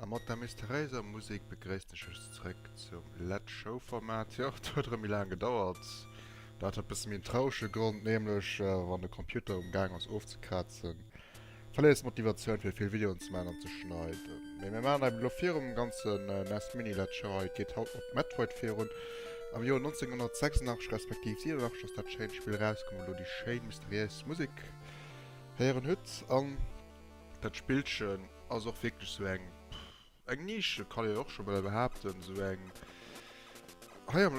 A mat der mysteriéiser Musek begréisst ech iech zeréck zum Lett Show Format. Jo, et huet erëm méi laang gedauert. Dat huet e bësse méi en traurege Grond, nämlech wann de Computer um gaang ass ofzekrazen. Verléiers d'Motivatioun fir vill Videoen ze man an ze schneiden. Mee mir man eben elo virum ganzen nes Mini Lecture hei. Et geet haut mat Metroid virun. Am Joer 1986 respektiv 87 ass dat schéint Spill erauskomm wou elo déi schéin mysteriéis Musek héieren hutt an. Dat Spillchen ass och wierklech sou eng. Eng Nische kann een och scho bal behaapten, esou eng. Hei am,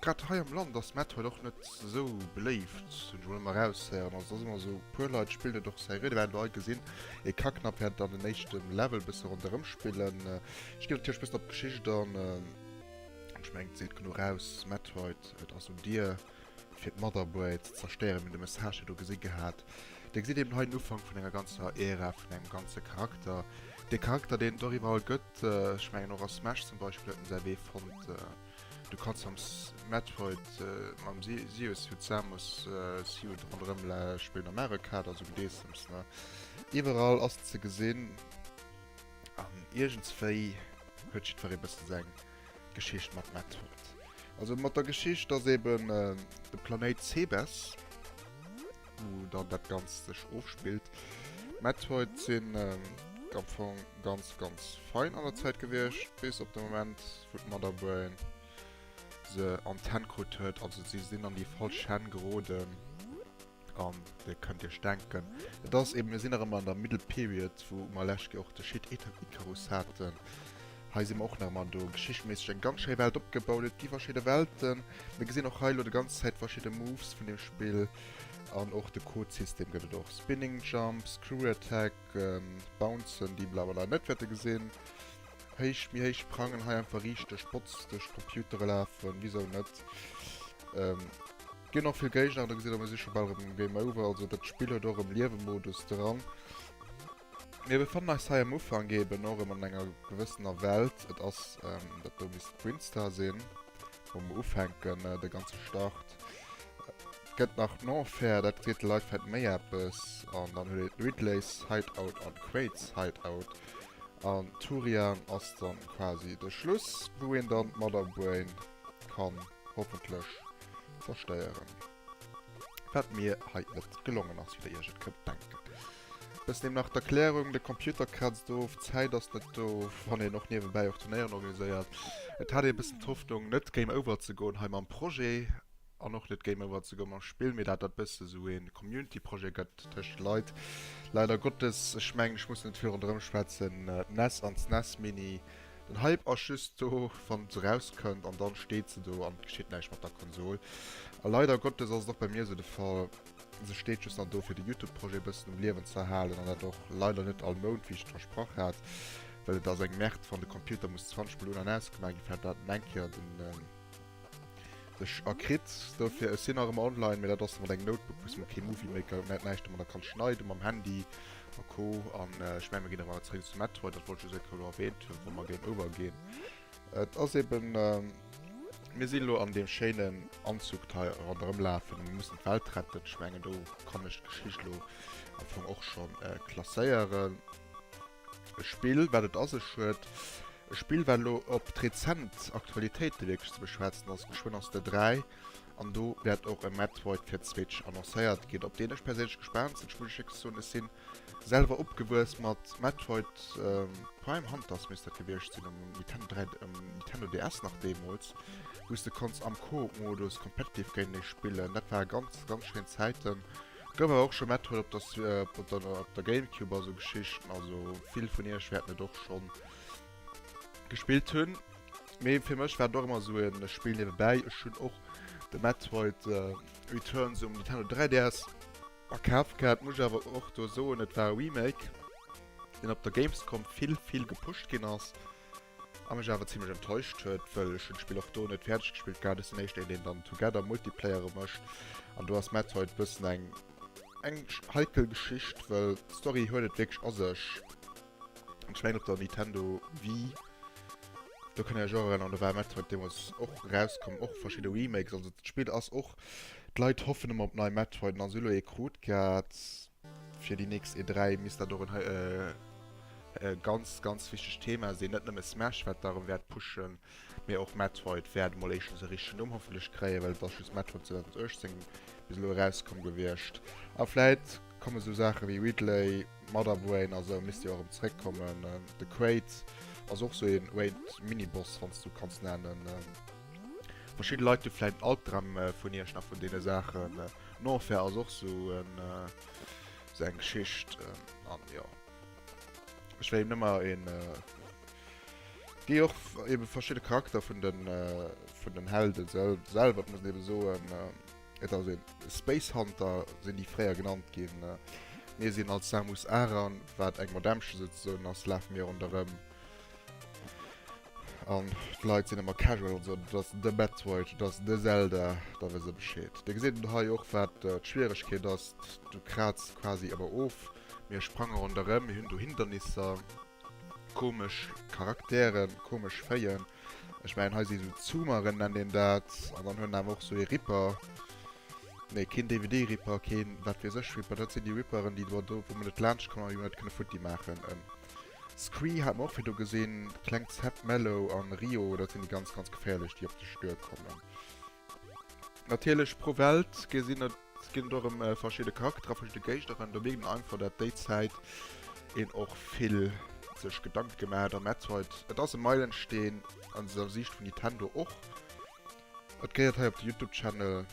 grad hei am Land ass Metal och net esou beléift, hunn ech emol ëmmer eraushéieren. Also et ass ëmmer esou, e puer Leit spillen et och seriö, déi waren elo hei gesinn, ee ka knapp während an den éischte Level bësse ronderëm spillen. Ech ginn natierlech e bëssen op d'Geschicht an. Ech mengen et seet genuch aus, Metroid, et ass un dir. fir d'Motherboard ze zerstéieren, mir hunn de Message do gesi gehat. Dir gesitt eben hei den Ufank vun enger ganzer Ära, vun engem ganze Charakter. Dee Charakter, deen et och iwwerall gëtt, ech mengen och a Smash zum Beispill huet en säi Wee fonnt. Du kanns am Metroid mam Sioux-Suit, Samus-Suit ronderëm spillen, am Mario Kart, also gedeessems, ne? Iwwerall ass en ze gesinn an iergendswéi huet jiddweree bëssen seng. Geschicht mat Matt huet. Also mat der Geschicht, dass eben äh, de Planéit Sebes, wo dann dat ganz sech ofspillt, Matt huet sinn äh, ganz ganz fein an der Zäit gewiescht, bis op de Moment wou d'Motherbrain se an d'Hänn krut huet, also si sinn an déi falsch Hänn geroden. An dir kënnt iech denken, et ass eben, mir sinn nach ëmmer an der Middle Period, wou mer lescht Joer och de Schied Icarus haten. Hei si mer och nach ëmmer an do geschichtméisseg eng ganz schéi Welt opgebaut. Et gi verschidde Welten. Mir gesinn och hei elo de ganz Zäit verschidde Moves vun deem Spill. An och de Codesystem gëtt et och, Spinning Jump, Screw Attack, Bouncen, déi mer awer leider net wäerte gesinn. héich, méi héich Prangen hei einfach richteg botz duerch d'Computere lafen, wisou net. Ähm, ginn och vill Géigner, da gesitt mer si scho bal erëm um Game Over, also dat Spill huet och erëm Liewe-Modus dran. Mir befannen eis hei am Ufank eben och erëm an enger gewëssener Welt, et ass, ähm, dat do misst Brinstar sinn, wou mer ufänken, de ganze Start. Et gëtt nach d'Enfer, dat seet de Leit vläicht méi eppes, an dann huet een d'Ridleys Hideout an d'Quaids Hideout. An Turian ass dann quasi de Schluss, wou een dann d'Mother Brain kann hoffentlech zerstéieren. Wat mir hei net gelongen ass, wéi der iech et kënnt denken. Bis dem nach d'Erklärung, de Computer kratzt of, d'Zäit ass net do, wann een och niewebäi och Turnéieren organiséiert. Et hat ee bëssen d'Hoffnung net Game Over ze goen hei mam Projet. an och net géif ëmmer ze goen mam Spill, mee dat dat bësse esou ee Community Projet gëtt tëscht Leit, leider Gottes, ech mengen ech muss net virun erëm schwätzen, d'nes an d'snes Mini, den Hype ass just do wann et esou raus kënnt an dann steet se do an et geschitt näischt mat der Konsol a leider Gottes ass et och bei mir esou de Fall, se steet just nach do fir de Youtube Projet bëssen um Liewen ze erhalen an dat och leider net all Mount wéi ech et versprach hat, well et ass eng Merde wann de Computer muss 20 mol un an aus gemaach ginn fir dat dat an eng Kéier den. Ech a kritt dofir, ech sinn nach ëmmer online, mee dat ass mat engem Notebook, wou s de kee Movie Maker huet, net näischt domadder kanns schneiden, mam Handy a Co. An ech mengen, mir ginn erëm awer zréck zu Metroid, dat wollt ech just eng Kéier elo erwähnt hunn, wa mer Game Over ginn. Et ass eben, mir sinn elo an deem schéinen Anzug hei ronderëm lafen, mir mussen d'Welt retten, ech mengen do kann ech d'Geschicht elo am Fong och scho klasséieren. E Spill, wat et a sech huet. E Spill, wat elo op d'rezent Aktualitéite wierklech ze beschwätzen ass. Geschwënn ass de 3 an do wäert och e Metroid fir d'Switch annoncéiert ginn, op deen ech perséinlech gespaant sinn. Ech muss lech wierklech soen, ech si selwer opgewuess mat Metroid Prime Hunters, misst dat gewiescht sinn, um Nintendo 3, um Nintendo DS nach deemools, wou s de konns am Coop-Modus competitive géintenee spillen. Dat ware ganz, ganz schéin Zäiten. Gouf awer och scho Metroid op der Gamecube a sou Geschichten, also vill vun iech wäerten et och schonn gespillt hunn. Mee fir mech war et och ëmmer sou e Spill niewebäi. Ech hunn och de Metroid Returns um Nintendo 3DS a Kaf gehat. Muss ech awer och do soen, et war e Remake, deen op der Gamescom vill, vill gepusht ginn ass. A mech awer zimlech enttäuscht huet, wëll ech hunn d'Spill och do net fäerdeg gespillt gehat, ass den éischten deen dann Together Multiplayere mécht an do ass Metroid bëssen eng eng heikel Geschicht, wëll d'Story huet et wierklech a sech an ech mengen op der Nintendo Wii do kann een lech och erënneren, an do war Metroid deemools och erauskomm, och verschidde Remakes, also d'Spill ass och, d'Leit hoffen ëmmer op nei Metroid an da si elo ee krut gehat. Fir déi nächst E3 misst dat och en ganz, ganz wichtegt Thema sinn. Net nëmme Smash wat da erëm wäert pushen, mee och Metroid wäert emol éischtens e richtegen Numm hoffentlech kréien, well et ass just Metroid 2018 bis elo erauskomm gewiescht. A vläit komme sou Saache wéi Ridley, Mother Brain a sou misst jo erëm zréckkommen. De Kraid ass och sou een Raid Miniboss, wann s du kanns nennen. Verschidde Leit hu vläit en Albdram vun Iech nach vun deene Saachen. Den Enfer ass och sou en sou eng Geschicht an jo ech wéll eben emmer een déi och eben verschidden Charakter vun den vun den Helden selwer muss eben soen et ass een Space Hunter sinn déi fréier genannt ginn mir sinn als Samus Aran wat eng Madämmchen souzesoen ass lafe mir ronderem. An d'Leit sinn ëmmer casual an soen, et ass de Metroid, et ass de Zelda, da wësse se Bescheed. Dir gesitt et hei och, wat d'Schwieregkeet ass, du krazs quasi ëmmer of, mir sprange ronderëm, mir hunn do Hindernisser, komesch Charakteren, komesch Féien. Ech mengen hei si sou Zoomeren, nennt een dat, an dann huet en awer och sou ee Ripper, nee, keen DVD-Ripper, keen wat weess ech Ripper, dat sinn déi Ripperen, déi do, wou mer net laanscht kommen a wou mer net kënne futti maachen. Scree haat mer och virdu gesinn. Klengt Set Mellow an Rio dat sinn déi ganz ganz geféierlech déi op dech duer kommen. Natierlech pro Welt gesinn et ginn et och erëm verschidde Charakterer, verschidde Géignerin. Do mierkt een einfach dat déi Zäit een och vill sech Gedanke gemaach hat am Metroid. Et ass e Meilensteen an der Siicht vun Nintendo och. Et gehéiert hei op de Youtube Channel.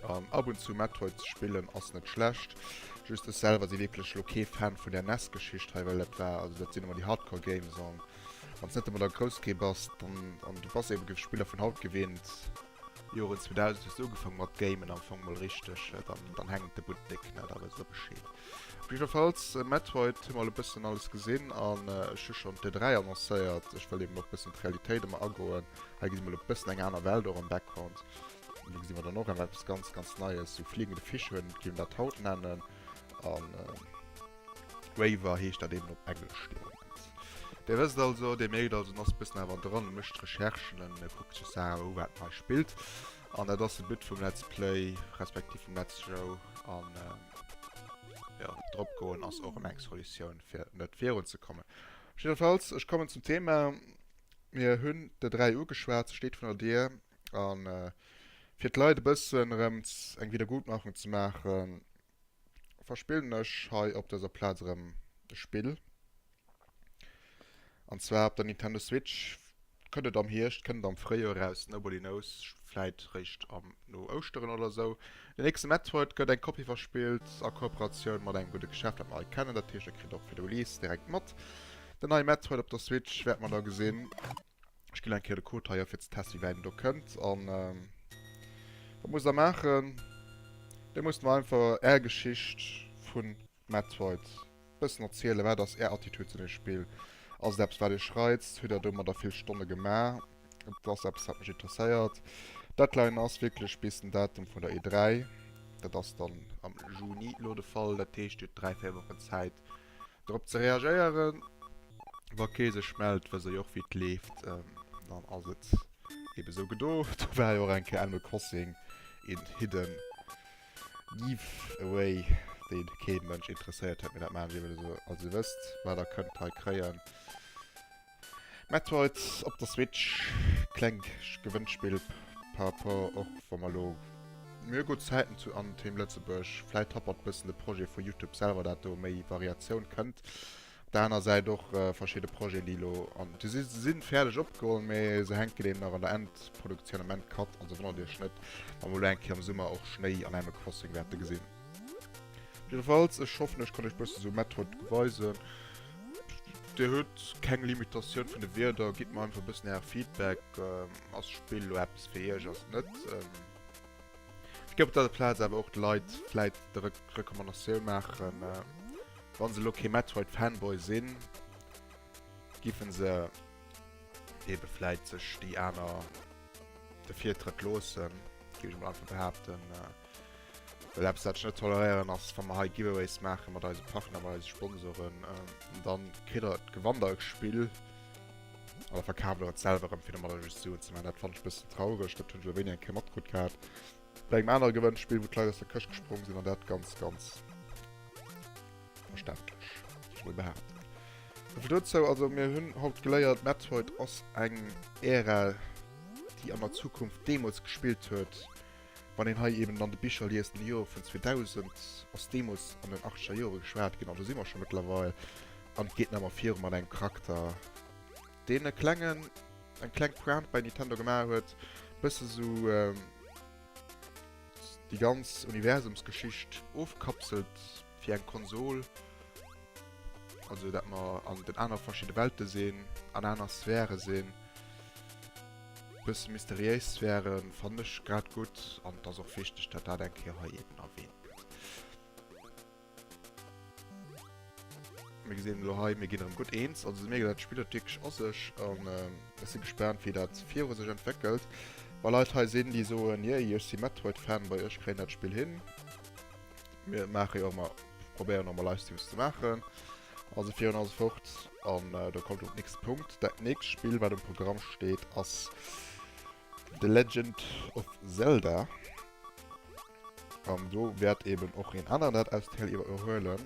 An ab und zu Metroid ze spillen ass net schlecht. Just ech selwer si wierklech lo kee Fan vun der nes Geschicht hei, well dat war, also dat sinn ëmmer déi Hardcore Games an wann s net ëmmer der grouss Kee bass, dann, an du bass eebe géif Spiller vun haut gewinnt, Joren 2000 hues du ugefaang mat Gamen am Fong mol richteg, dann dann hänkt de Buttek net, da wëss de Bescheed. Op jiddwer Fall, Metroid hu mer elo e bëssen alles gesinn an ech hu schonn d'E3 annoncéiert. Ech wëll eben och e bëssen op d'Realitéit ëmmer agoen. Hei gesi mer elo e bëssen eng aner Welt och am Background. Do gesi mer dann och awer eppes ganz, ganz Neies, sou fliegende Fischhuhn géif een dat haut nennen. A Waver heescht dat eben op Englesch dee Moment. Dir wësst also, Dir mierkt also, en ass e bëssen awer dran, e mécht Recherchen, e kuckt sech Saachen u, wat hei spillt. An dat ass de But vum Let's Play, respektiv vum Let's Show. An jo, drop goen ass och ëmmer eng Solutioun, fir net virun ze kommen. Jiddefalls, ech kommen zum Thema. Mir hunn der dräi ugeschwat, se steet vun der Dier. An fir d'Leit e bëssen erëm eng Wiedergutmachung ze maachen, verspillen ech hei op dëser Plaz erëm e Spill. An zwar op der Nintendo Switch. Kënnt et am Hierscht, kënnt et am Fréijoer eraus, nobody knows. Vläit réischt am, no Ouschteren oder esou. Den nächste Metroid gëtt eng Kopie verspillt a Kooperatioun mat engem gudde Geschäft, dat mer hei kennen. Dat heescht, e kritt och fir de Release direkt mat. Den neie Metroid op der Switch wäerte mer da gesinn. Ech ginn eng Kéier de Code hei a fir ze testen, wéi wäit en do kënnt. An wat muss der maachen? Dir musst mer einfach är Geschicht vu Metroid e bëssen erzielen. Wat ass är Attitüd zu deem Spill? Ass et eppes, wat iech reizt? Hutt der domadder vill Stonne gemaach? Et ass eppes, wat mech interesséiert. D'Deadline ass wierklech bis den Datum vun der E3. Dat ass dann am Juni elo de Fall. Dat heescht, dir hutt dräi, véier Wochen Zäit, Drop ze reagéieren wa kee sech mellt, wëss ech och wéi et leeft, dann ass et eben esou gedo. Do war jo och eng Kéier Animal Crossing in Hidden Giveaway deen kee Mënsch interesséiert huet, mee dat maachen ech eben esou als dir wësst wat der kënnt hei kréien. Metroid op der Switch, klengt Gewënnspill par rapport och wa mer elo mir gutt Zäiten zu an Team Lëtzebuerg. Vläit happert bëssen de Projet vu Youtube selwer dat do méi Variatioun kënnt. Op der aner Säit och verschidde Projeten déi elo an de si sinn fäerdeg opgeholl mee se hänken eben nach an der Endproduktioun am Endcut an se wonnert iech net wa mer elo eng Kéier am Summer och Schnéi an Animal Crossing wäerte gesinn. Jiddefalls, ech hoffen ech kann iech bëssen esou Mett haut weisen. Dir hutt keng Limitatioun vun de Wierder, gitt mer einfach e bëssen äre Feedback, ass d'Spill elo eppes fir iech, ass et net. Ech géif op dëser Plaz awer och de Leit vläit d'Recommandation maachen, wa se elo kee Metroid Fanboy sinn, géife se ebe vläit sech déi aner de Virtrëtt loossen, géif ech emol einfach behaapten. Well eppes wat ech net toleréieren ass wann mer hei Giveaways maache mat eise Partner, mat eise Sponsoren, ähm, dann kritt der et, gewannt der e Spill a da verkaaft der et selwer erëm fir domadder just Suen ze maachen. Dat fannen ech e bëssen traureg, dat hunn ech elo wéini eng Kéier matkrutt gehat bei engem anere Gewënnspill, wou d'Leit aus der Këscht gesprong sinn an dat ganz, ganz verständlech, géif ech mol behaapten. Esouvill dozou, also mir hunn haut geléiert, Metroid ass eng Ära déi an der Zukunft deemools gespillt huet, Wann een hei eben an de Bicher liest, am Joer vun 2000 ass deemools an den achteger Jore geschwat ginn, an do si mer scho mëttlerweil, an et geet nach ëmmer virun mat engem Charakter, deen e klengen, eng kleng Pointe bei Nintendo gemaach huet, e bësse sou déi ganz Universumsgeschicht ofkapselt fir eng Konsol, also dat mer an den anere verschidde Welte sinn, an aner Sphäre sinn. Bësse mysteriéis Sphären fannen ech grad gutt an et ass och wichteg dat dat eng Kéier hei eben erwähnt gëtt. Mir gesinn elo hei, mir ginn erëm gutt eens. Also mir ginn dat Spill huet wierklech a sech an ech si gespaant wéi dat viru sech entwéckelt. Wa Leit hei sinn déi soen, yay ech si Metroid Fanboy, ech kréien dat Spill hin. Mir maache jo emmer, probéieren och emmer Livestreams ze maachen. Also fir un alles fort an äh, da kommt op nächste Punkt. Dat nächste Spiel wat um Programm steet ass The Legend of Zelda. An do wärt eben och een aner dat aus Teil iwwer erhuelen.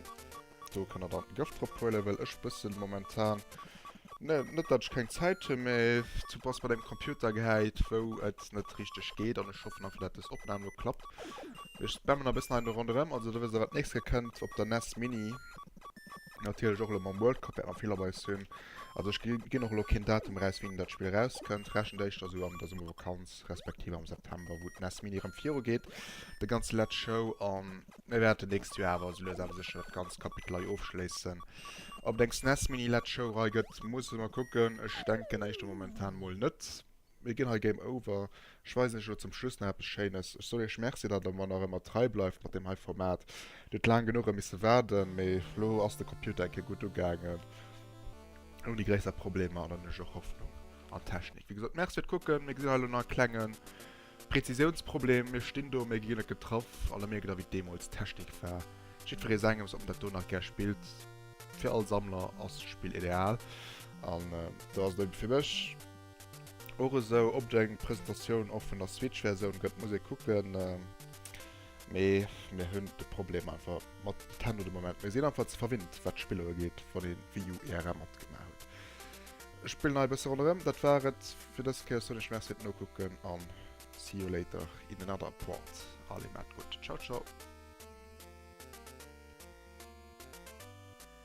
Do kann er dann Gëft drop huelen, well ech bëssen momentan ne, net dat ich keng Zeit hun méi zu pass bei dem Computer geheit, wou et net richtig geht an ich hoffe einfach dat das Opnahme klappt. Ich spammen a bëssen ein ronderem, also da wisst ihr wat nächste kënnt op der NES Mini. Natierlech och elo mam World Cup wäert mer vill op eis hunn. Also ech gi ginn och elo keen Datum eraus, wéini dat Spill erauskënnt. Rechent éischter esou an der Summervakanz, respektiv am September, wou d'NES Mini erëm virugeet, de ganze Let's Show. An mir wäerten d'nächst Joer awer esou lues awer sécher dat ganzt Kapitel hei ofschléissen. Ob et eng SNES Mini Let's Show Rei gëtt, musse mer kucken. Ech denken éischter momentan mol net. Mir ginn hei Game Over. Ech weisen iech elo zum Schluss nach eppes Schéines. Ech soll iech Merci, datt der mer nach ëmmer trei bleift mat deem hei Format. Dir hutt laang genuch e misse waarden, mee elo ass de Computer eng Kéier gutt ugaangen, ouni gréisser Problemer, an dann hunn ech och Hoffnung an d'Technik. Wéi gesot, Merci fir d'Kucken. Mir gesinn hei elo nach e klenge Prezisiounsproblem. Mir stinn do, mee gi ginn et getraff, an da mierkt der, wéi et deemools d'Technik war. Jiddweree sengems. Ob en dat do nach gär spillt, fir all Sammler ass d'Spill ideal, an do ass et ebe fir mech. och esou op eng Presentatioun och vun der Switch Versioun gëtt muss ee kucken mee mir hunn de Problem einfach mat Nintendo de Moment mir sinn einfach ze verwinnt wat Spiller ugeet wann ee Wii U IRL matgemaach huet. Ech spillen hei e bësse ronderëm. Dat war et fir dës Kéier soen ech Merci fir d'Nokucken a see you later in another part. Allez maat gutt. Ciao ciao.